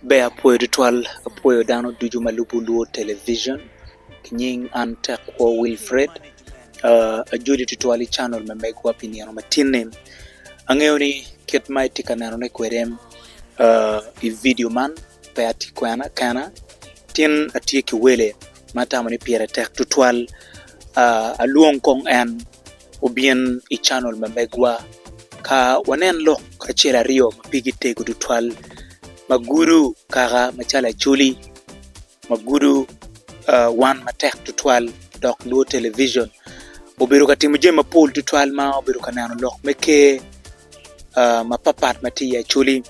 Ber apwoyo tutwal apwoyo dano ducu ma lubo lwor television ki nying an Tekwo Wilfred ajoli tutwal i canel ma megwa pi nino ma tinni angeyo ni kit ma itye ka nenone kwede i vidio man pe atye kwena kena tin atye ki wele ma atamo ni pire tek tutwal, alwong kong en obin i canal ma megwa ka wanen lok acel aryo ma pigi tego tutwal ma gudo kaka macalo Acholi ma gudo wan matek tutwal dok lwor television. Obedo ka timo jami mapol tutwal ma obedo ka neno lok me Ker. mapatpat ma tye i Acholi,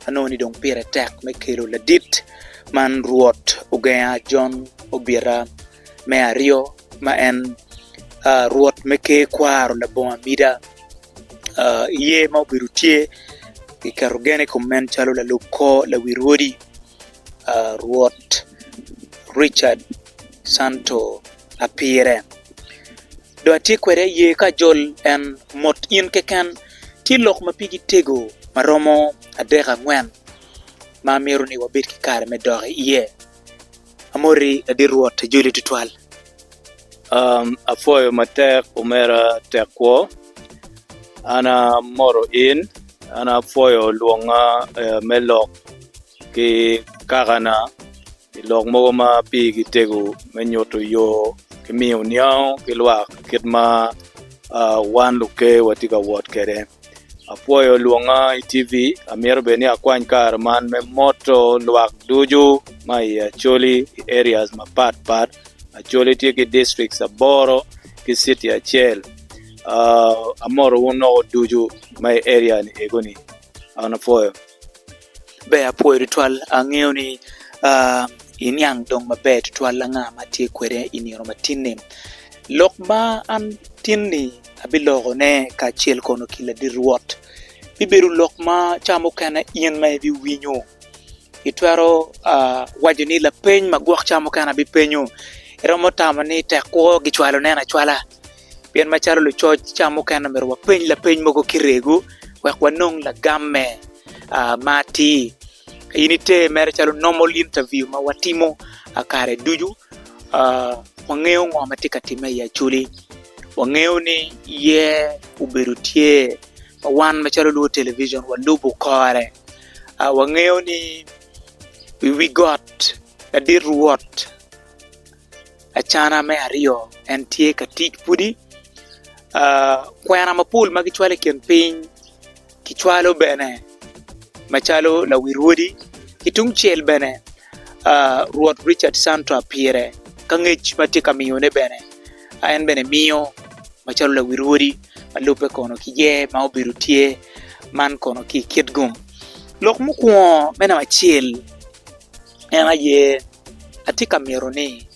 anongo ni dong pire tek me kelo ladit man Rwot ogenga Jon obita me aryo ma en Rwot me Ker Kwaro labongo amida. Iye ma obedo tye kiketo gen i kom en calo lalub kor lawi rwodi Rwot Ricat. Santo ma pire. Dong atye kwede i ye ka ajol en mot in keken tye lok ma pigi tego ma romo adek angwen ma myero ni wabed ki kare me dok i ye. Amoti ladit Rwot ajoli twatwal. Apwoyo matek omera tek kwo an amoto in an apwoyo lwonga me lok ki kakana. I lok mogo ma pigi tego me nyuto yo ki miyo niango ki lwak kit ma wan luker watye ka wot kwede. Apwoyo lwonga i TV, amito bene ni akwany kare man me moto lwak ducu ma i Acholi i areas mapat pat. Acholi tye ki districts aboro ki city acel. Amoto wun woko ducu ma i area ni eko ni. An apwoyo. Ber apwoyo tutwal angeyo ni iniang dong maber tutwal anga ma atye kwede i nino ma tinni lok ma an tinni abilokone kacel kono ki ladit Rwot bibedo lok ma ca mukene in ma ibiwinyo itwero waco ni lapeny magwok ca mukene abipenyo iromo tamo ni tek kwo gicwalo nen acwala. Pien macalo lucoc ca mukene omyero wapeny lapeny mogo ki rego wek wanong lagamme ma atir. In ite mere calo normal interview ma watimo kare ducu, wangeyo ngo ma tye ka timme i Acholi. Wangeyo ni iye obedo tye ma wan macalo lubo television walubo kore. Wangeyo ni i wi got ladit Rwot. Acana me aryo en tye ka tic pwodi, kwena mapol ma kicwalo i kin piny kicwalo bene macalo lawil odi ki tung cel bene Rwot Ricat Cantra pire ka ngec ma tye ka miyone bene en bene miyo macalo lawil odi ma lubbe kono ki ye ma obedo tye man kono ki i kit gum lok mukwongo me namba acel En aye, atye ka mito ni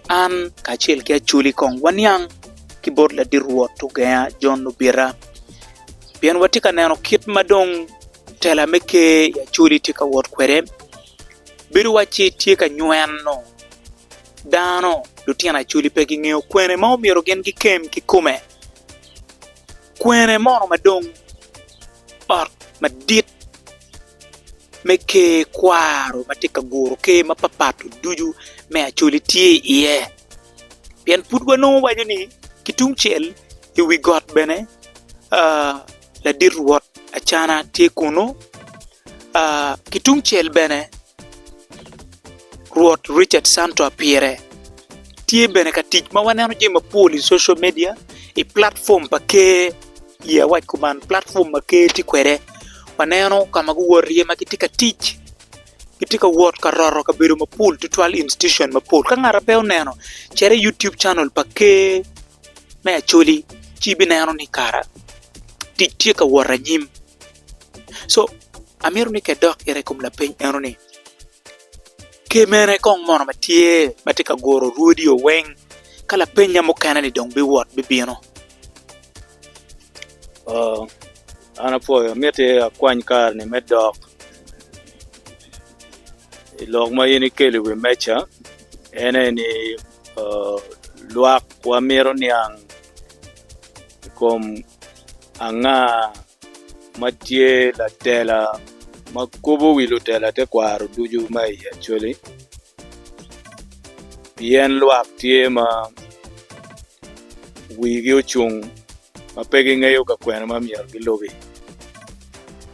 an kacel ki Acholi kong waniang ki bot ladit Rwot ogenga Jon Lubita, pien watye ka neno kit ma dong tela me Ker i Acholi tye ka wot kwede. Bedo wacci tye ka nyweno dano, lutino Acholi pe gingeyo kwene ma omyero gin gikem kikome, kwene mono ma dong. ot madit me ker kwaro ma tye ka guro ker mapatpat ducu me Acholi tye iye pien pud wanongo waco ni ki tung cel i wi got bene ladit rwot Acana tye kunu ki tung cel bene rwot Ricat Canto Apyere tye bene ka tic ma waneno jami mapol i social media i platform pa ker. ye awac kuman platform ma ker tye kwede waneno ka ma guwoto iye ma gitye ka tic gitye ka wot ka roto kabedo mapol tutwal institution mapol ka ngata pe oneno cito i YouTube channel pa ker me Acholi ci ibineno ni kara tic tye ka wot anyim so amito ni kidok gire i kom lapeny eno ni Ki mene kong mono ma tye ma tye ka guro rwodie weng ka lapenya mukene ni dong biwot bibino? Oo an apwoyo miti akwany kare-ni me dok i lok ma in ikelo i wi meja en aye ni oo lwak wa mito niang i kom anga ma tye latela ma kobo wi lutela tekwaro ducu ma i Acholi pien lwak tye ma wigi ocung ma pe gingeyo ka kwene ma myero gilubi.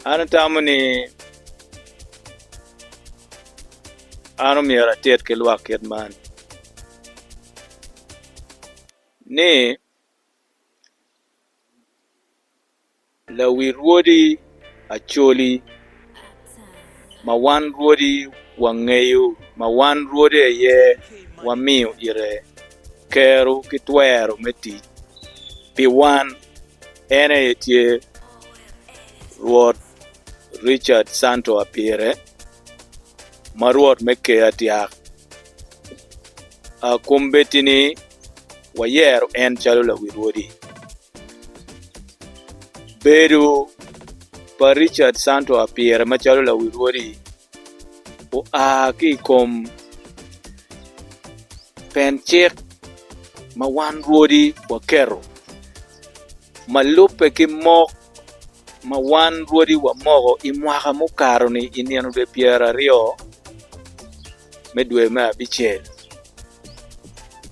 An atamo ni an omyero atit ki lwak kit man ni Lawil rwodi Acholi ma wan rwodi wangeyo ma wan rwodi aye wamiyo ite kero ki twero me tic pi wan, en aye tye Rwot Richard Santo Apire ma Rwot me Ker Tyak. Akombeddi-ni. wayero en calo lawil wodi. Bedo pa Richard Santo Apire macalo lawil wodi oa ki i kom pen cik ma wan rwodi waketo ma lubbe ki mok ma wan rwodi wamoko i mwaka mukato-ni i nino dwe pyeraryo me dwe me abicel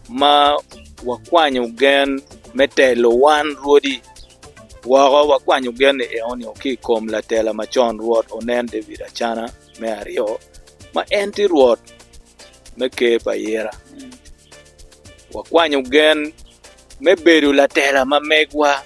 ma wakwanyo gen me telo wan rwodi woko. Wakwanyo gen-ni enoni ki i kom latela macon Rwot Onen David Acana me Aryo ma en tye Rwot me Ker pa Ayera. Wakwanyo gen me bedo latela ma megwa.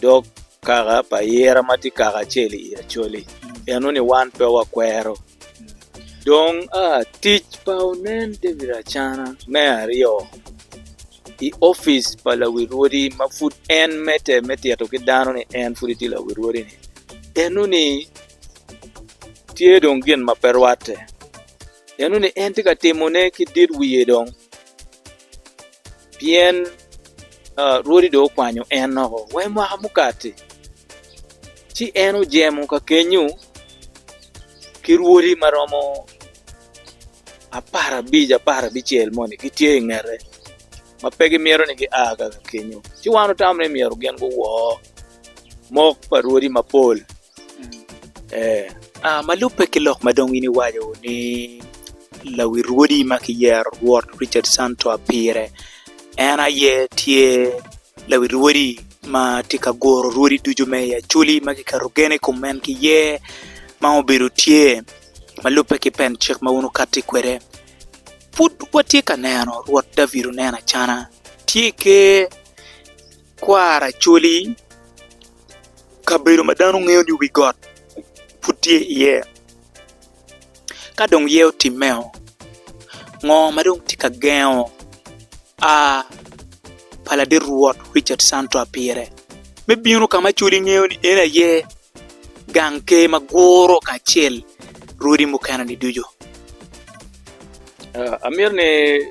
dog kaka pa ayira ma tye kaka acel i Acholi, pien nongo ni wan pe wakwero. Dong tic pa Onen David Acana me aryo i opic pa lawil wodi ma pud en medde me tito ki dano ni en pud tye lawil wodi ni, en nongo ni tye dong gin ma pe rwatte, en nongo ni en tye ka timone ki dit wiye dong. pien Rwodi dong okwanyo en woko wa i mwaka mukati. Ci en ojemo ka kenyu ki rwodi ma romo apar abic apar abicel moni gitye i ngete ma pe gimito ni gia ka kenyu, ci wan otamo ni myero gin guwo. mok pa rwodi mapol ee aa ma lubbe ki lok ma dong in iwaco ni lawi rwodi ma kiyero rwot Richard Santoa pire en aye tye lawi rwodi ma tye ka guro rwodi ducu me i Acholi ma kiketo gen i kom en ki iye ma obedo tye ma lubbe ki pen cik ma wun wukati kwede pud watye ka neno rwot David Onen Acana tye i ker. Kwar Acholi, kabedo ma dano ngeyo ni wi got pud tye iye. Ka dong ye otimme o, ngo ma dong tye ka gengo a pa ladit rwot Richard Santwa pire me bino ka ma Acholi ngeyo ni en aye gang ker ma guro kacel rwodi mukene-ni ducu? Amito ni.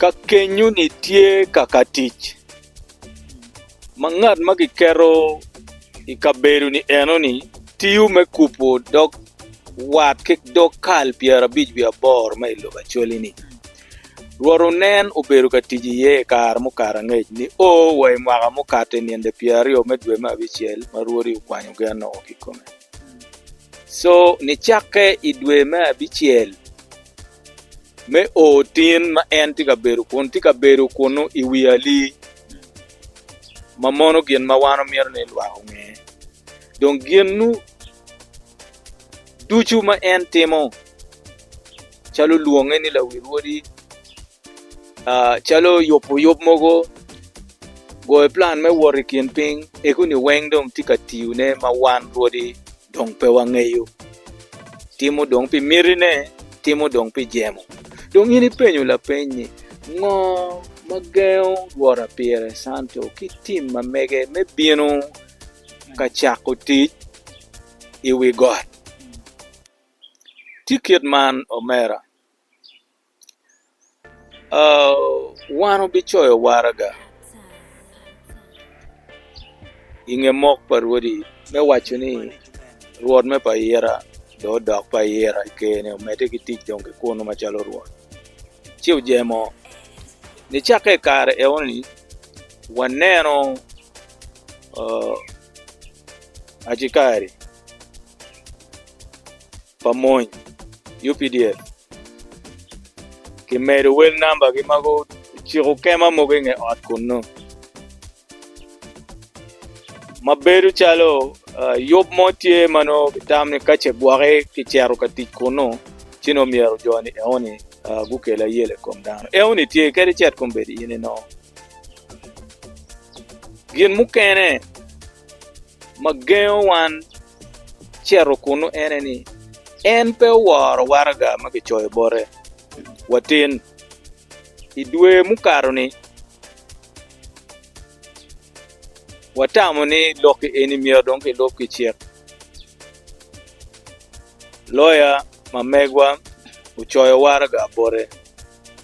Ka kenyoni tye kaka tic ma ngat ma kiketo i kabedoni enoni tiyo me kubo dog wat ki dog kal pyerabic wiye aboro ma i lobo Acholi-ni, Rwot onen obedo ka tic iye i kare mukato angec nio wa i mwaka mukato i ninde pyeraryo me dwe me abicel ma Rwodi okwanyo gen-nogo kikome. Co nicakke i dwe me abicel me o tin ma en tye ka bedo kun tye ka bedo kunnu i wi ali, ma mono gin ma wan omito ni lwak onge. Dong ginnu ducu ma en timo, calo lwonge ni lawil wodi, calo yubo yub mogo goyo plan me wot i kin piny egoni weng dong tye ka tiyo ne ma wan rwodi dong pe wangeyo timo dong pi miti ne timo dong pi jemo dong in ipenyo lapeny ni ngo ma gengo rwota pire Santo ki tim ma mege me bino ka cako tic i wi got tye kit man omera Wan wubicoyo waraga i nge mok pa Rwodi, me waco ni, Rwot me payira dong odok payira i ker-ni, omedde ki tic dong ki kunnu macalo rwot. Ci ojemo ni cakke i kare enoni waneno Acikari. pa mony, UPDF, kimedo wel namba gi ma guciko kema mogo inge ot kunnu. Ma bedo calo yub mo tye ma nongo gitam ni ka ce gwoki kicero ka tic kunnu ci nongo myero joni eoni gukel ayela i kom dano. Eoni tye kadi cet kombeddi in inongo. Gin mukene. ma gengo wan cito kunnu ene ni en pe oworo waraga ma kicoyo bote. Watin. I dwe mukato-ni, watamo ni lok-ki eni myero dong kilub ki cik. Loya ma megwa ocoyo waraga bote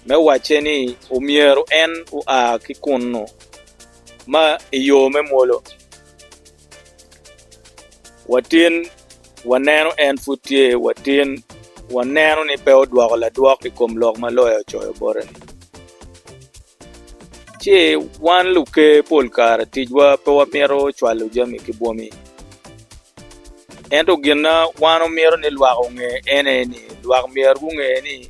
me wacce ni omyero en oa ki kunnu. ma i yo me mwolo, watin waneno en pud tye watin, waneno ni pe odwoko ladwok i kom lok ma loya ocoyo bote-ni. Ci wan luker pol kare ticwa pe wamito cwalo jami ki bwomi, ento gin ma wan wamito ni lwak onge en aye ni lwak myero gunge ni,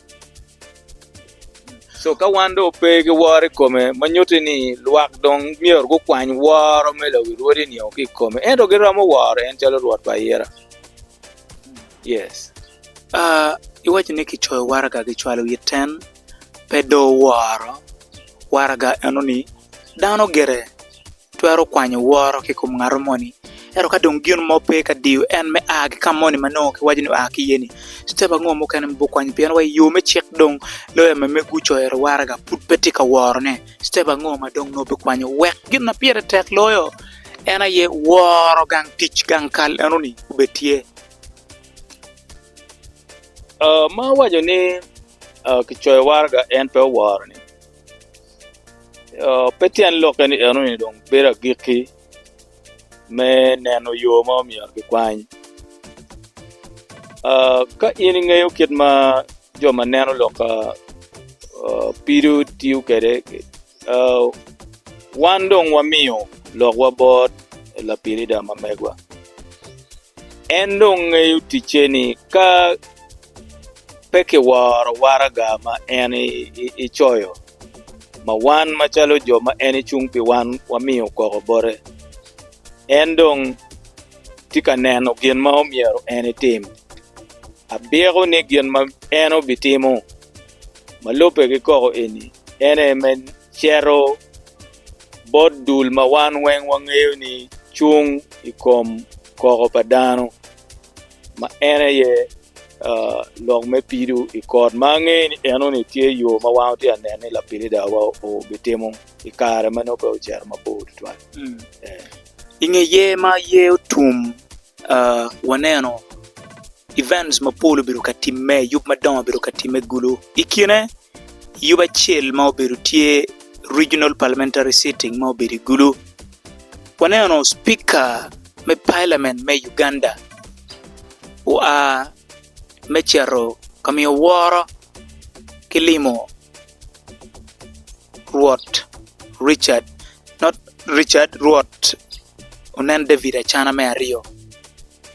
Co ka wan dong pe ki woro i kome ma nyuti ni lwak dong myero gukwany woro me lawi Rwodi nio ki i kome ento gi romo woro en calo Rwot pa ayira. Yes. Aa, i waco ni ki coyo waraga ki cwalo it ten pe doo woro waraga eno ni dano gire. twero kwanyo woro ki i kom ngat moni ento ka dong gin mo pe ka diyo en me a ki ka moni ma nongo kiwaco ni oa ki iyeni citep ango mukene ma ibino kwanyo pien wa i yo me cik dong loya ma megi gucoyo waraga pud pe tye ka worone citep ango ma dong nongo bikwanyo wek gin ma pire tek loyo en aye woro gang tic gang kal enoni obed tye? ma waco ni kicoyo waraga en pe oworo-ni. Pe tyen lokke ni enoni dong bedo agikki me neno yo ma omyero kikwany. Ka in ingeyo kit ma jo ma neno lok ka pido tiyo kwede, wan dong wamiyo lokwa bot lapilida ma megwa. En dong ngeyo ticce ni ka Pe kiworo waraga ma en ecoyo, ma wan macalo jo ma en ecung pi wan wamiyo koko bote. En dong tye ka neno gin ma omyero en etim. Abyeko ni gin ma en obitimo ma lubbe ki koko eni en aye me cito bot dul ma wan weng wangeyo ni cung i kom koko pa dano. ma en aye lok me pido i kot ma angeyo ni eno ni tye yo ma wan wutye ka neno ni lapilidawa obitimo i kare ma nongo pe ocito mabor tutwal. I nge yer ma yer otum, waneno events mapol obedo ka timme, yub madongo obedo ka timme gulu. I kine, yub acel ma obedo tye Regional Parliamentary Sitting ma obedo i gulu. Waneno Cipika me palamen me Uganda oa me cito ka miyo woro ki limo Rwot Richard Rwot Onen David Acana me Aryo.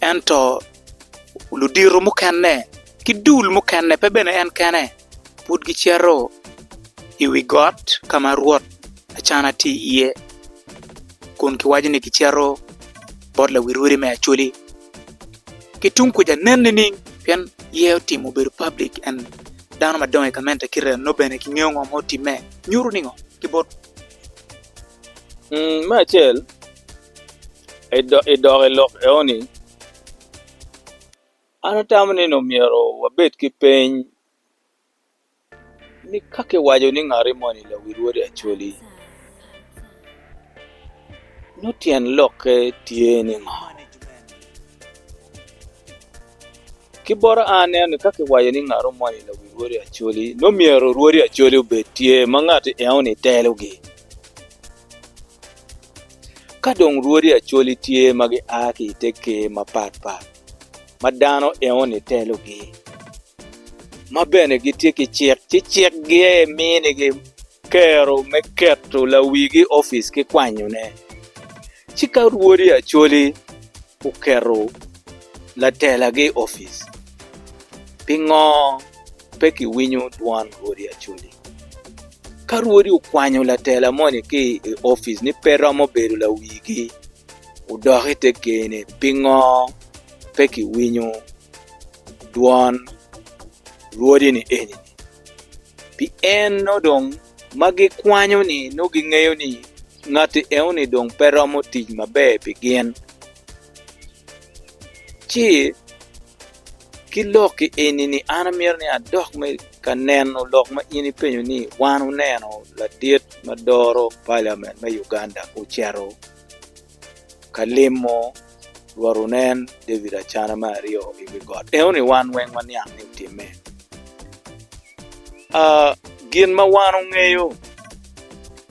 Ento ludito mukene ki dul mukene pe bene en kene pud gicito i wi got ka ma Rwot Acana tye iye kun giwaco ni gicito bot lawil odi me Acoli. Ki tung kuca nen nining? Pien iye otim obedo public and dano madongo i gamente ki rem nongo bene gingeyo ngo ma otimme. Nyuto ningo ki bot. Me acel. I dok i lok eoni, an atamo ni nongo myero wabed ki peny ni ka kiwaco ni ngati moni lawil wode Acholi, nongo tyen lokke tye ni ngo? Ki bota an aneno ni ka kiwaco ni ngato moni lawil wode Acholi nongo myero wod Acholi obed tye ma ngati eoni telogi. Ka dong rwodi Acholi tye ma gia ki i te ker mapatpat ma dano enoni telogi, ma bene gitye ki cik, ci cikgi aye minigi kero me keto lawigi i opic ki kwanyone. Ci ka rwodi Acholi oketo latelagi i opic, pingo? pe kiwinyo dwon rwodi Acholi. Ka rwodi okwanyo latela moni ki i opic ni pe romo bedo lawigi, odok i te ger ni pingo pe kiwinyo dwon rwodi ni eni-ni? Pien nongo dong ma gikwanyo-ni nongo gingeyo ni ngatti enoni dong pe romo tic maber pi gin, ci ki lok i eni-ni an amito ni adok me ka neno lok ma in ipenyo ni wan wuneno ladit ma doro paliamen me Uganda ocito ka limo Rwot wunen David acana me aryo i wi got. Enoni wan weng waniang ni otimme. Uh, gin ma wan ongeyo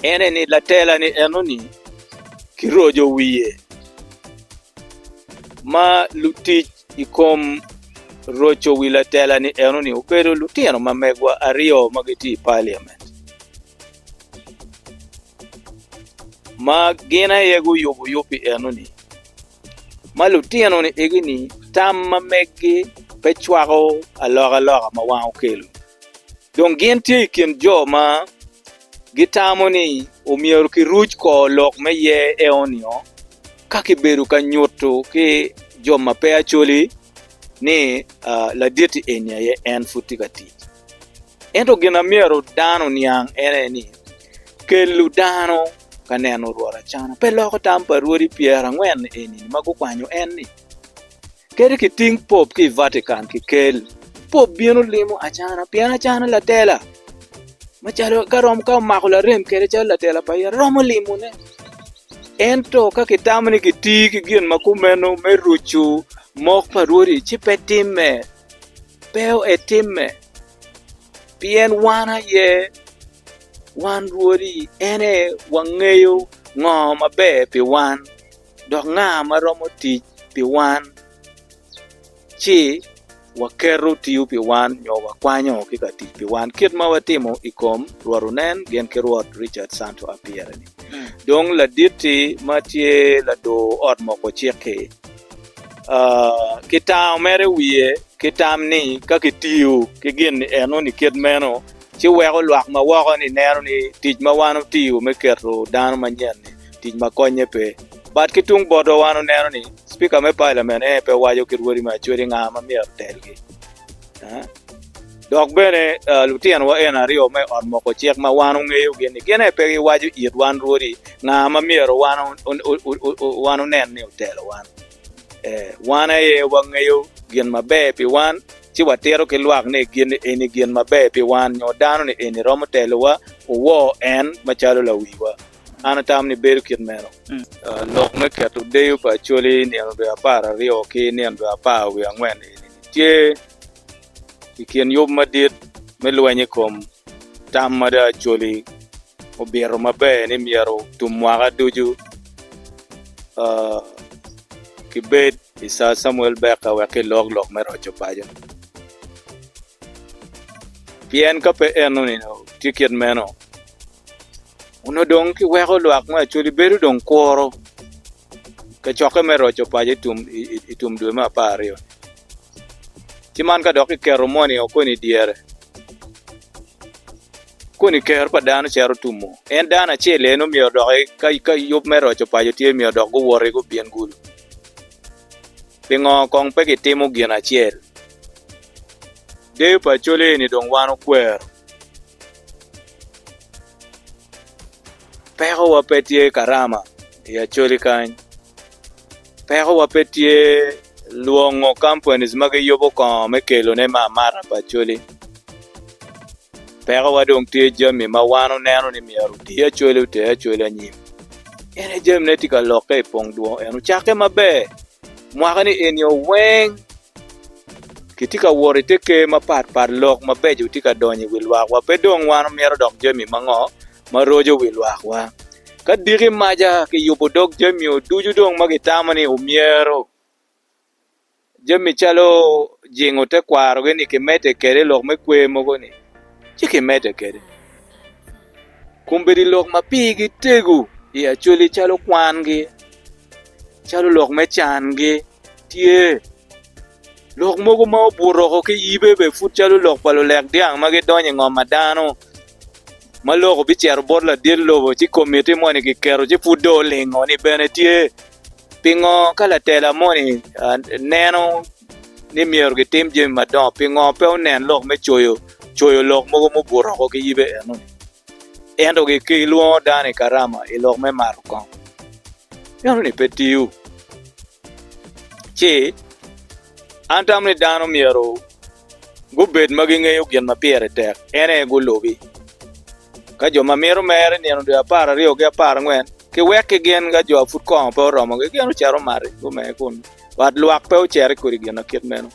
ene ni latela ni enoni kirojo wiye ma lutic i kom roco wi latela ni enoni obedo lutino ma megwa aryo ma gitye i parliament. ma gin aye guyubo yub pi enoni ma lutino ni egi ni tam ma megi pe cwako alokaloka ma wan okelo dong gin tye i kin jo ma gitamo ni omyero ki ruc kor lok me yer enoni-o ka kibedo ka nyutu ki jo ma pe acoli ni laditi eni aye en pud tye ka tic Ento gin ma myero dano oniang ene ni, kelo dano ka neno Rwot acana pe loko tam pa rwodi pyerangwen eni ma gukwanyo en ni, Kadi kiting Pope ki i Vatican kikel, Pope bino limo acana pien acana latela macalo ka romo ka omako larem kede calo latela pa ite romo limone. Ento ka kitamo ni kitii ki gin ma kumeno me rucu mok pa rwodi ci pe timme. pe etimme, pien wan aye wan rwodi, en aye wangeyo ngo maber pi wan, dok nga ma romo tic pi wan ci waketo tiyo pi wan nyo wakwanyo ki ka tic pi wan kit ma watimo i kom Rwot Onen gin ki Rwot Richard Santo Apire-ni, dong laditti ma tye lador ot moko cik-ki. ki tam mere i wiye ki tam ni ka kitiyo ki gin enoni kit meno ci weko lwak ma woko ni neno ni tic ma wan otiyo me keto dano manyen ni tic ma konye pe bat ki tung botwa wan oneno ni cipika me palamen aye pe waco ki rwodi me acwedi nga ma myero otelgi Dok bene, lutinowa eni aryo me ot moko cik ma wan ongeyogi ni gin aye pe giwaco it wan rwodi nga ma myero wan onen ni otelo wan. Ee, wan aye wangeyo gin maber pi wan, ci watito ki lwak ni gin eni gin maber pi wan nyo dano ni eni romo telowa, wuwor en macalo lawiwa. An atamo ni bedo kit meno. Lok me keto deyo pa Acholi i nino dwe apar aryo ki nino dwe apar wiye angwen eni tye. i kin yub madit me lweny i kom tam mada Acholi obito maber ni myero tum mwaka ducu kibed i Sir Samuel Beka wek kilok lok me roco paco. Pien ka pe enoni tye kit meno. Onongo dong kiweko lwak me Acholi bedo dong kuro kacokke me roco paco i tum dwe me apar aryo-ni. Ci man ka dok kiketo moni-o koni i dyere, koni Ker pa dano cito tumo. En dano acel aye nongo myero odok i, ka yub me roco paco tye, myero odok guwoti gubin gulu. Pingo kong pe kitimo gin acel? Deyo pa Acholi eni dong wan okwero. Pekowa pe tye i karama i Acholi kany. Pekowa pe tye lwongo companies ma giyubo kongo me kelone me amata pa Acholi. Pekowa dong tye jami ma wan oneno ni myero oti Acholi oter Acholi anyim. En aye jamine tye ka lokke i pong dwong en ocakke maber. Mwaka ni eni o weng kitye ka wot ite ker mapat pat lok mabeco tye ka donyo i wi lwak wa pe dong wan omyero odok jami mango ma roco wi lwak wa ka diki maca ki yubo dog jami o ducu dong ma ki tamo ni omyero jami calo jingo te kwaro gi ni ki mede kwede lok me kwer mogo ni ci ki mede kwede Kombeddi lok ma pigi tego i Acholi calo kwangi, calo lok me cangi tye. Lok mogo ma obuto woko ki yibe bene pud calo lok pa lulek dyang ma gidonyo i ngom pa dano ma lok obicito bot ladit lobo ci komitti moni kiketo ci pud dong olingo-ni bene tye. Pingo ka latela moni neno ni myero gitim jami madongo, pingo pe onen lok me coyo coyo lok mogo mubuto oko ki yibe enoni? Ento gilwongo dano i Karama i lok me mato kong. Enoni pe tiyo. Ci, an tamo ni dano myero. gubed ma gingeyo gin ma pire tek en aye gulubi. Ka jo ma mito mere i nino dwe apar aryo ki apar angwen ki wek ki gin ka jo a pud kongo pe oromogi gin ocito omati gumee kun wat lwak pe oceri kodi gin akit meno.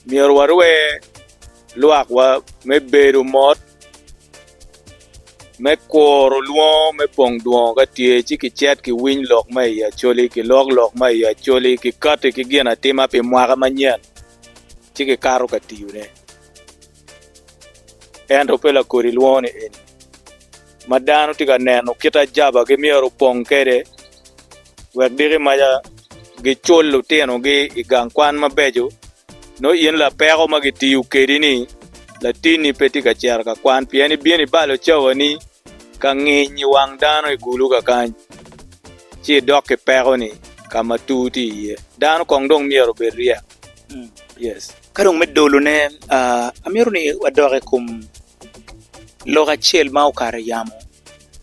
Myero warwe lwak wa me bedo mot. Me kuro lwongo me pong dwongo ka tye, ci kicet ki winy lok ma i Acholi, kilok lok ma i Acholi, kikati ki ginatima pi mwaka manyen, ci kikato ka tiyone. Ento pe lakodi lwongo-ni eni, ma dano tye ka neno kit ajabagi myero opong kwede. wek giki maca gicul lutinogi i gang kwan mabeco, nongo in lapeko ma gitiyo kedi ni latinni pe tye ka cito ka kwan pien ibino ibalo cawani ka nginy i wang dano i kulu kakany, ci idok ki pekoni ka ma tur tye iye. Dano kong dong myero obed ryek. Yes. Ka dong me dolone, amito ni wadok i kom lok acel ma okato i yamo.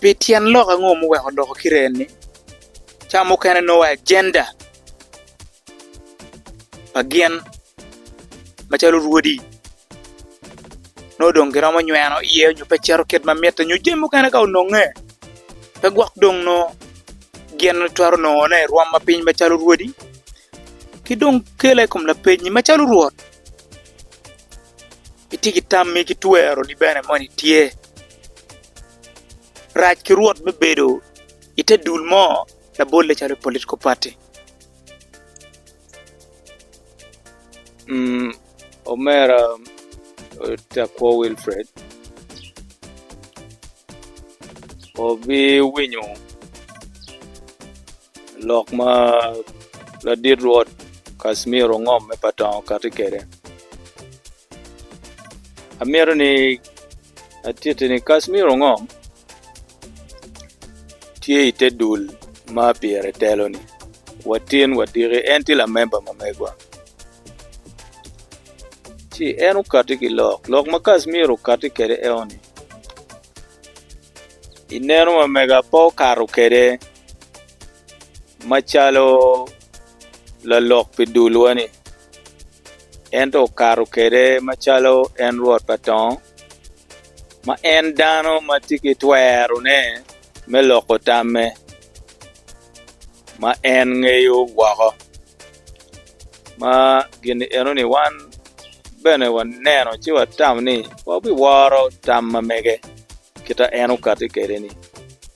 Pi tyen lok ango ma oweko odoko kite eni? Ca mukene nongo wa agenda pa gin macalo rwodi nongo dong giromo nyweno iye nyo pe cito kit ma mitte nyo jami mukene ka ononge pe gwok dong nongo gin twero nongone i rwom ma piny macalo rwodi ki dong kele i kom lapeny macalo rwot. itye ki tammi ki tweroni bene moni tye rac ki rwot me bedo i te dul mo labolle calo political party omera Tekwo Wilfred obiwinyo Lok ma Ladit Rwot Casimir Ongom me Patongo kati kwede, amito ni atitti ni Casimir Ongom tye i te dul ma pire telo-ni, watin wadiki, en tye lamemba ma megwa. Ci en okati ki lok, lok ma Casimir okati kwede eno-ni, i neno ma mega pe okato kwede. Macalo lalok pi dulwa-ni, ento okato kwede macalo en Rwot pa tongo, ma en dano ma tye ki twerone me loko tamme ma en ngeyo woko. Ma gin enoni wan bene waneno ci watam ni wabiworo tam ma mege kit ma en okatti kwede-ni.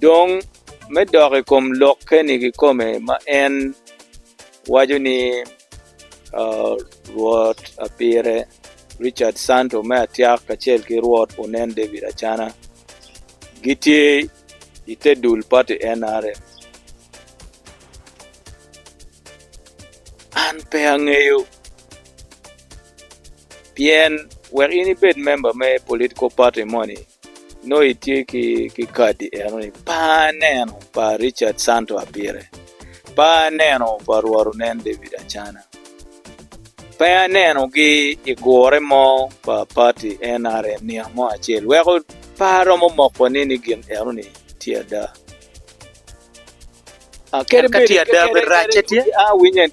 Dong, me dok i kom lokke-ni kikome ma en waco ni Rwot apire, Richard Santo me Atiak kacel ki Rwot onen David Acana gitye i te dul pati NRM. An pe angeyo, pien wek in ibed memba me political party moni, Nongo itye ki kadi enoni, pa aneno pa Richard Santo Abire, pa aneno pa Rwot Onen David Acana, pe anenogi i gure mo pa pati NRM nino mo acel weko pe aromo mokoni ni gin enoni tye ada.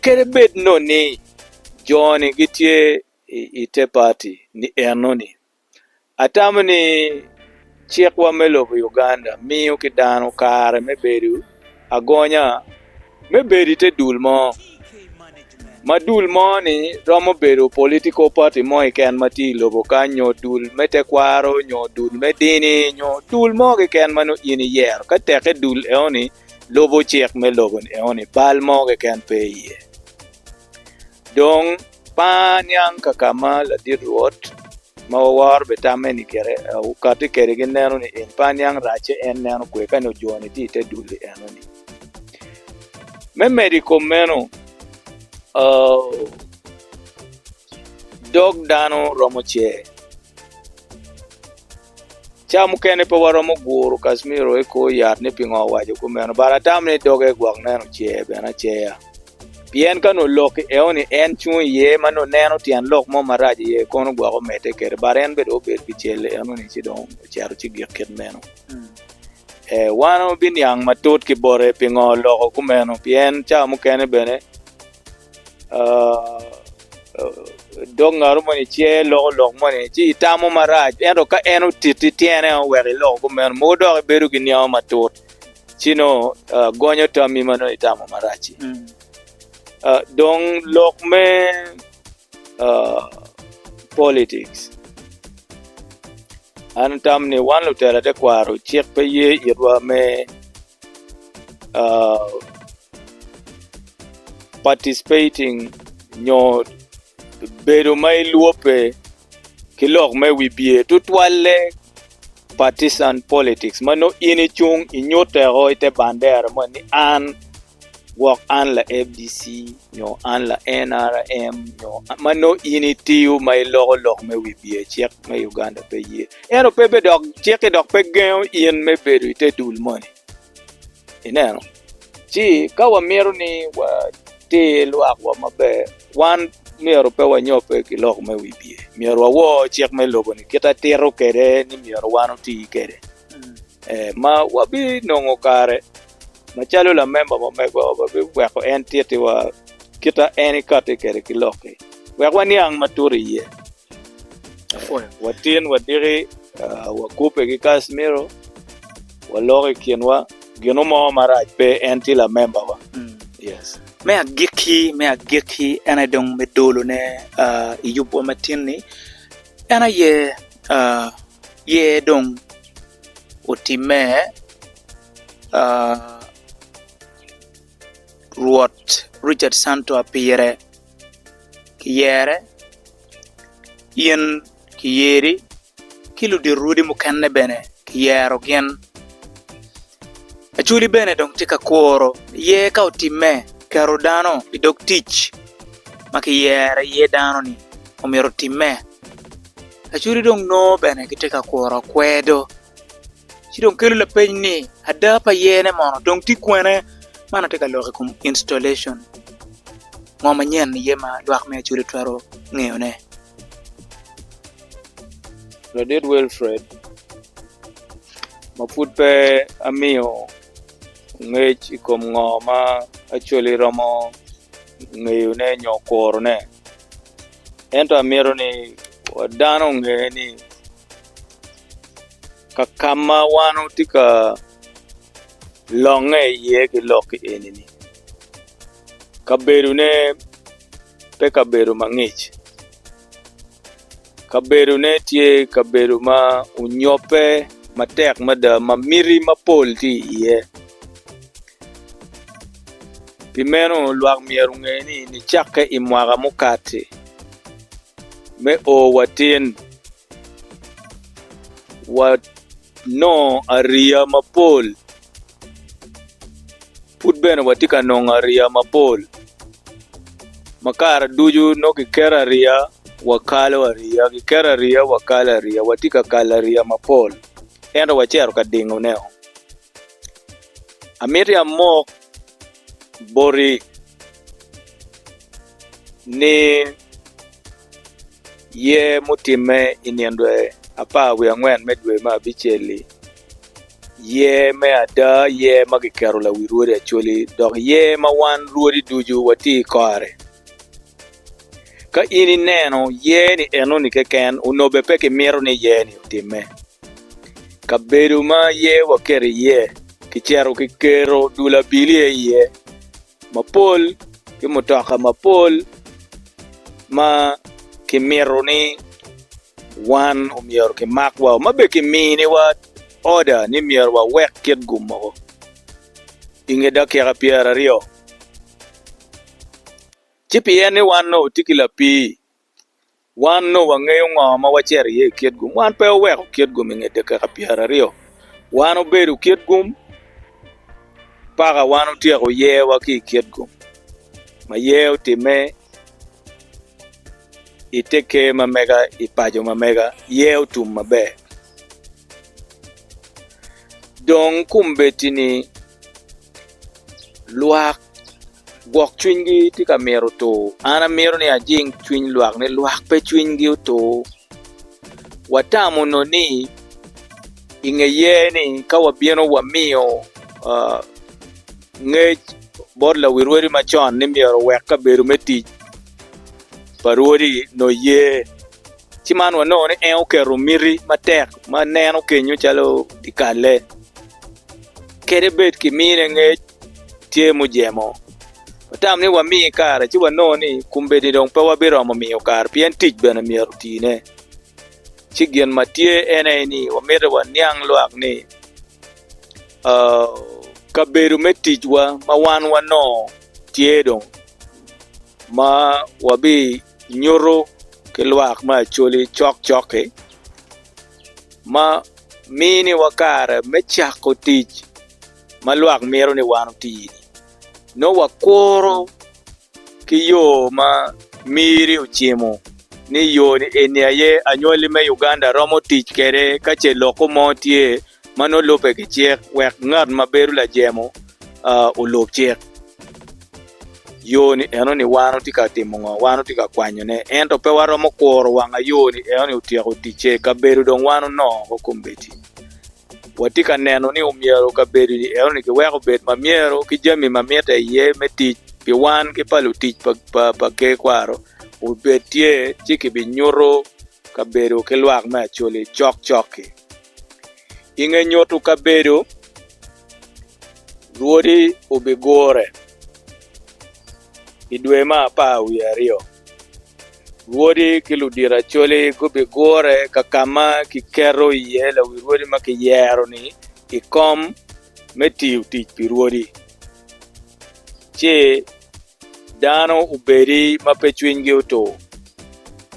Kadi bed nongo ni joni gitye i te pati ni enoni, Atamo ni cikwa me lobo Uganda miyo ki dano kare me bedo agonya me bedo ite dul mo, ma dul mo ni romo bedo political party mo keken ma tye ilobo kany nyo dul me tekwaro nyo dul me dini nyo dul mo keken ma nongo in iyero ka teke dul enoni lubo cik me lobo enoni bal mo keken pe iye. Dong, ma niang kaka ma ladit Rwot ma waworo bene tamme ni kite wukati kwede gineno ni en pe aniang racce en neno kwer ka nongo jo-ni tye i te dul i enoni. Me medo i kom meno, dog dano romo cer. Cawa mukene pe waromo guru Casimiro i kor yat ni pingo awaco kumeno, but atamo ni doge gwok neno cer bene aceya. Pien ka nongo lok i eoni en cung iye ma nongo neno tyen lok mo marac iye kono gwok omedde kede but en bene dong obedo pi cel enoni ci dong ocito ci gik kit meno. Eh, wan wabiniang matut ki bote pingo oloko kumeno pien cawa mukene bene dog ngaro moni ce loko lok moni ci itamo marac ento ka en otiti tyene o wek iloko kumeno mogo dok ibedo ki niango matut ci nongo gonyo tammi ma nongo itamo marac-ci dong lok me politics an atamo ni wan lutela tekwaro cik pe ye itwa me Participating nyo bedo ma ilwobbe ki lok me wibye tutwalle partisan politics ma nongo in icung inyuteo i te bandera moni ni an gwok an la FDC nyo an la NRM nyo ma nongo in itiyo ma iloko lok me wibye cik me Uganda pe ye. Ento pe bidok ciki dok pe gengo in me bedo i te dul moni. Ineno? Ci ka wamito ni watir lwakwa maber, wan myero pe wanyobbe ki lok me wibye. Myero wawor cik me lobo-ni kit atito kwede ni myero wan oti kwede, ma wabinongo kare Macalo lamemba ma omegwa, wabiweko en tittiwa kit ma en ikatti kwede ki lok-ki wek waniang matut iye. Watin, wadiki, wakubbe ki Casimiro, waloko i kinwa, ginu mo marac pe, en tye lamembawa. Me agikki, me agikki, en aye dong me dolone i yubwa matin-ni, en aye yer dong otimme. Rwot Richard Santoa pire kiyere, in kiyeri ki ludito rwodi mukene bene kiyero gin. Acholi bene dong tye ka kuro iye ka otime keto dano i dog tic ma kiyero iye dano ni omyero otime. Acholi dong nongo bene gitye ka kuro kwedo. Ci dong kelo lapeny ni ada pa yene mono dong tye kwene? Man atye ka lok i kom installation ngo manyen aye ma lwak me Acholi twero ngeyone? Ladit Wilfred ma pud pe amiyo ngec i kom ngo ma Acholi romo ngeyone nyo kurone ento amito ni dano onge ni ka kam ma wan watye ka longe iye ki lok eni-ni kabedone pe kabedo mangic kabedone tye kabedo ma onyobbe matek mada ma miti mapol tye iye pi meno lwak myero onge ni nicakke i mwaka mukati me o watin Wanongo ariya mapol. Pud bene watye ka nongo ariya mapol. Ma kare ducu nongo kiketo ariya wakalo ariya, kiketo ariya wakalo ariya. Watye ka kalo ariya mapol ento wacito ka dingone-o. Amiti amok. boti ni yer mutimme i nino dwe apar wiye angwen me dwe me abicel-li, yer me ada, yer ma kiketo lawi rwodi Acholi, dok yer ma wan rwodi ducu watye i kore. Ka in ineno yer-ni enoni keken, onongo pe kimito ni yer-ni otimme. Kabedo ma yer waketo iye kicito kiketo dul abiliye iye mapol ki mutoka mapol ma kimito ni wan omyero kimak wa ma bene kiminiwa oda ni myero wawek kit-gu mogo i nge dakika pyeraryo. Ci pien ni wan onongo watye ki lapii, wan onongo wangeyo ngo ma wacito iye i kitgum. Wan pe waweko kitgum i nge dakika pyeraryo, wan obedo kitgum paka wan otyeko yewa ki i kitgum ma yer otime i te ker ma mega i paco ma mega, yer otum maber. Dong kombeddi-ni. Lwak gwok cwinygi tye ka mito tur. An amito ni ajing cwiny lwak ni lwak pe cwinygi otur. Watamo nongo ni i nge yer ni ka wabino wamiyo ngec bot lawirwadi macon ni myero owek kabedo me tic pa rwodi nongo yer Ci man wanongo ni en oketo miti matek ma neno kenyo calo kikalle kede bed kimine ngec tye mujemo. Watamo ni wami kare ci wanongo ni kombeddi dong pe wabiromo miyo kare pien tic bene myero otine. Ci gin ma tye en aye ni wamito waniang lwak ni kabedo me ticwa ma wan wanongo tye dong ma wabi nyuto ki lwak me Acholi cokcok-ki ma miniwa kare me cako tic ma lwak mito ni wan oti-ni. Nongo wakuro ki yo ma Miri ocimo ni yo-ni eni aye anywali me Uganda romo tic kwede ka ce lok mo tye ma nongo lubbe ki cik wek ngat ma bedo lajemo olub cik. Yo ni eno ni wan otye ka timo ngo? Wan otye ka kwanyo ne. Ento pe waromo kuro wang ayo ni eno ni otyeko ticce. Kabedo dong wan onongo oko kombeddi. Watye ka neno ni omyero kabedo ni eno ni ki weko obed ma myero ki jami ma mite iye me tic pi wan ki pa lutic pa, pa, pa ker kwaro obed tye ci ki bi nyuto kabedo ki lwak me acoli cok cok ki. I nge nyuto kabedo, lwodi obigure i dwe me apar wiye aryo. Lwodi ki ludiracwali gubigure ka ka ma kiketo iye lawirwodi ma kiyero-ni i kom me tiyo tic pi rwodi. dano obedi ma pe cwinygi otur.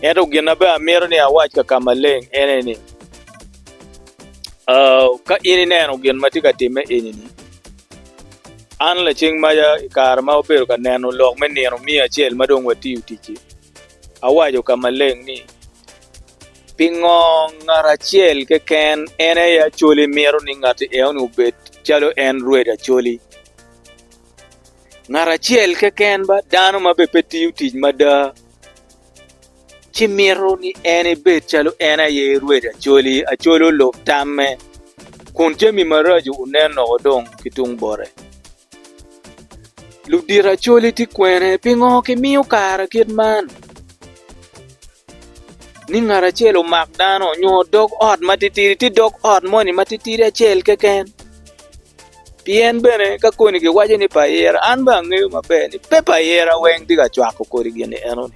Ento gin ma bene amito ni awac ka ka maleng ene ni, ka in ineno gin ma tye ka timme eni-ni, an lacing maca i kare ma wabedo ka neno lok me nino miyo acel ma dong watiyo tic-ci, awaco ka maleng ni, Pingo ngat acel keken en aye Acholi mito ni ngatti eno-ni obed calo en Rwed Acholi? ngat acel keken ba dano ma bene pe tiyo tic mada ci mito ni en ebed calo en aye rwed acoli, acol olub tamme, kun jami maraco onen loko dong ki tung bote. Ludit acoli tye kwene? Pingo kimiyo kare kit man ni ngat acel omak dano nyo dog ot matitidi? Tye dog ot moni matitidi acel keken? Pien bene ka koni giwaco ni pa ira, an bene angeyo maber ni pe pa ira weng tye ka cwako kodi gin enoni.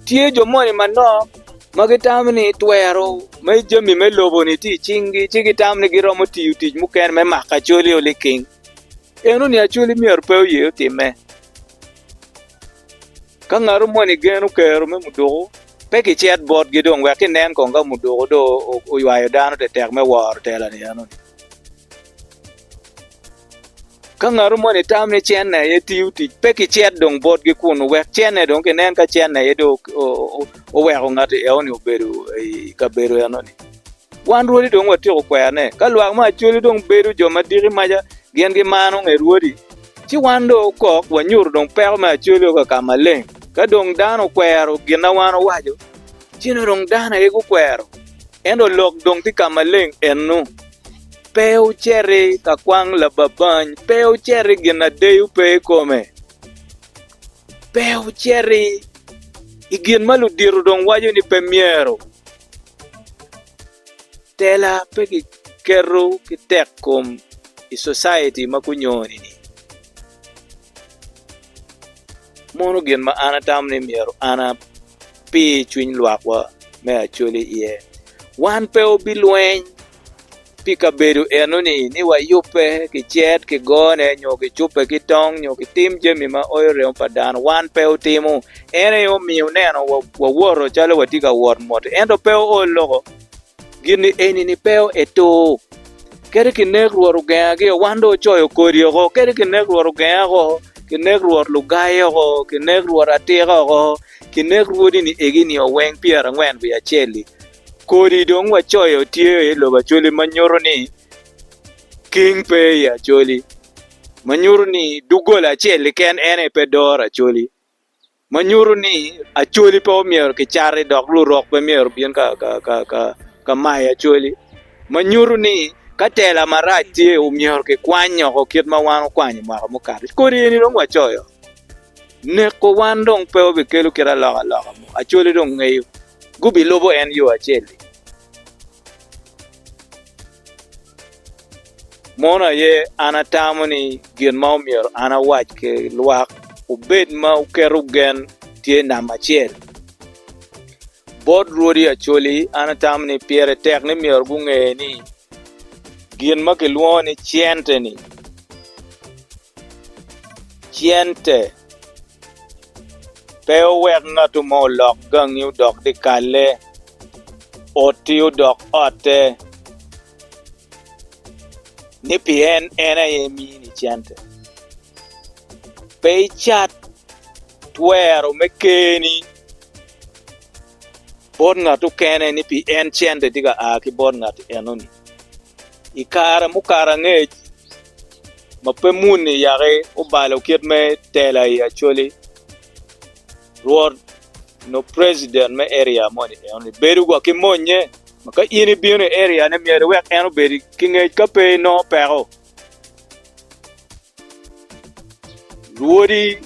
Tye jo moni manok ma gitamo ni twero me jami me lobo-ni tye i cingi, ci gitamo ni giromo tiyo tic mukene me mako acolio liking. Enoni acoli myero pe oye otimme. Ka ngatu moni geno kero me muduku, pe kicit botgi dong wek kinen kong ka muduku dong oywayo dano tetek me woro tela-ni enoni. Ka ngat mo ni tam ni cene aye tiyo tic pe ki cet dong botgi kunu wek cene dong kinen ka cene aye dong oweko ngat eno ni obedo i kabedo eno ni wan rwodi dong watyeko kwene ka lwak me Acholi dong bedo jo ma diki maca gin gimaro nge rwodi ci wan dong okok wanyuto dong peko me Acholi o kaka maleng ka dong dano okwero gin ma wan owaco Ceno dong dano aye gukwero, ento lok dong tye ka maleng ennu. Pe wuciti ka kwang lababany, pe wuciti gin na deyo pe i kome, pe wuciti i gin ma ludito dong waco ni pe myero. Tela pe kiketo ki tekkom i society ma gunyoni-ni. Mono gin ma an atamo ni myero an pi cwiny lwakwa me Acholi iye. Wan pe wabilweny pi kabedo enoni ni wayubbe ki cet, ki gone, nyo kicubbe ki tong, nyo kitim jami ma oyo remo pa dano. Wan pe watimo. En aye omiyo ineno wawoto calo watye ka wot mot-ti. Ento pe oo loko gin eni-ni pe etur. Kadi kinek Rwot ogenga gio, wan dong wacoyo kodi oko. Kadi kinek Rwot ogenga oko, kinek Rwot lugai oko, kinek Rwot atika oko. kinek rwodi ni egi nio weng pyera angwen wiye acel-li. Kodi dong wacoyo tye i lobo Acholi ma nyuto ni king pe i Acholi, ma nyuto ni doggola acel keken en aye pe doro Acholi, ma nyuto ni Acholi pe omyero kicati dok lurok pe myero obin ka mayo Acholi, ma nyuto ni ka tela marac tye omyero kikwany oko kit ma wan okwanyo mwaka mukato. Kodi eni dong wacoyo. Neko wan dong pe obikelo kit alokaloka mo. Acholi dong ngeyo. Gubilubo en yo acel-li. Mono aye an atamo ni gin ma omyero an awac ki lwak obed ma wuketo gen tye namba acel. Bot rwodi Acholi, an atamo ni pire tek ni myero gunge ni gin ma kilwongo ni cente-ni, Cente pe owek ngatu mo olok gangi odok dyekalle, otti odok otte, ni pi en en aye emini cente. Pe icat twero me keni bot ngat okene ni pi en cente tye ka a ki bot ngat enoni. I kare mukato angec ma pe muni yaki obalo kit me tela i Acholi, rwot nyo president me area moni enoni bedo wa ki monnye ma ka in ibino i area ne myero iwek en obed ki ngec ka pe inongo peko. Rwodi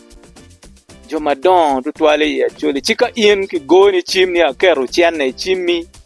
jo madongo tutwal i Acholi ci ka in kigoni cim ni aketo cene i cimmi.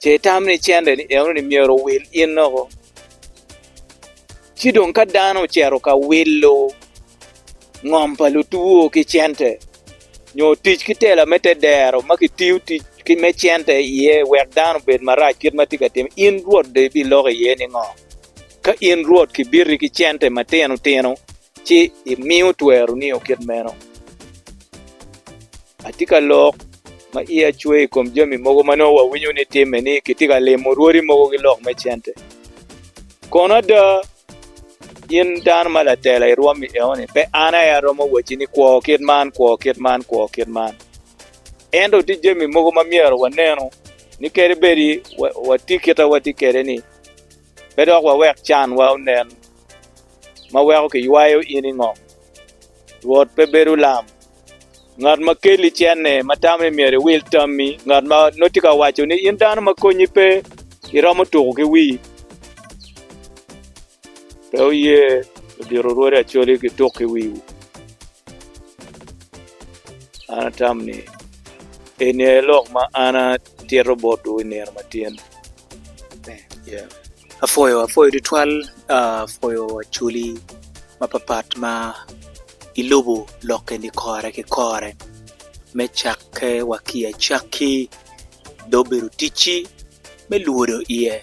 ce itam ni cente ni eno ni myero owil in loko ci dong ka dano ocito ka wilo ngom pa lutwo ki cente nyo tic ki tela me te dero ma ki tiyo tic ki me cente iye wek dano obed marac kit ma tye ka timo in rwot do ibiloko iye ni ngo ka in rwot kibiti ki cente matino tino ci imiyo twero niyo kit meno. Atye ka lok ma iya cwe i kom jami mogo ma nongo wawinyo ni timme ni kitye ka limo rwodi mogo ki lok me cente. Kono ada, in dano ma latela i rwom i eoni, pe an aye aromo wacci ni kwo kit man, kwo kit man, kwo kit man. Ento tye jami mogo ma myero wanenu ni kadi bedi watye kit ma watye kwede-ni, Pe dok wawek canwa onen ma weko kiywayo in i ngom. Rwot pe bedo lam, ngat ma keli cenne, ma tamo ni myero iwil tammi, ngat ma nongo tye ka waco ni in dano ma konyi pe, iromo tuko ki wii. Pe wuye ludito rwodi acoli gituk ki wiwu. An atam ni eni aye lok ma an Atyero botwu i nino ma tyen ni yeah. Apwoyo apwoyo tutwal ah, apwoyo acoli mapapat ma ilubo lok eni kore ki kore me cakke wa ki i acakki dong obedo ticci me lwodo iye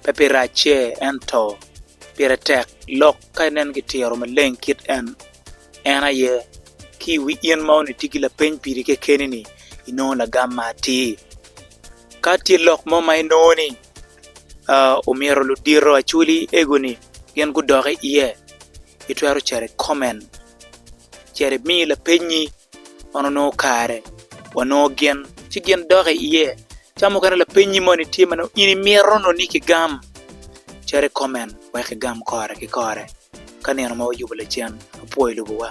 pe pi racce ento pire tek lok ka inen ki tiro maleng kit en en aye ki i wi in ma onongo itye ki lapeny piri kekeni ni inongo lagam ma atir. Ka tye lok mo ma inongo ni omyero ludito acholi ego-ni gin gudok i iye, itwero cito i koment cito imi lapeny-nyi man onongo kare wanongo gin ci gin dok i iye ca mukene lapeny-nyi moni tye ma nongo in imito nongo ni kigam cito i koment wek kigam kore ki kore ka nino ma wayubo lacen apwoyo lobowa.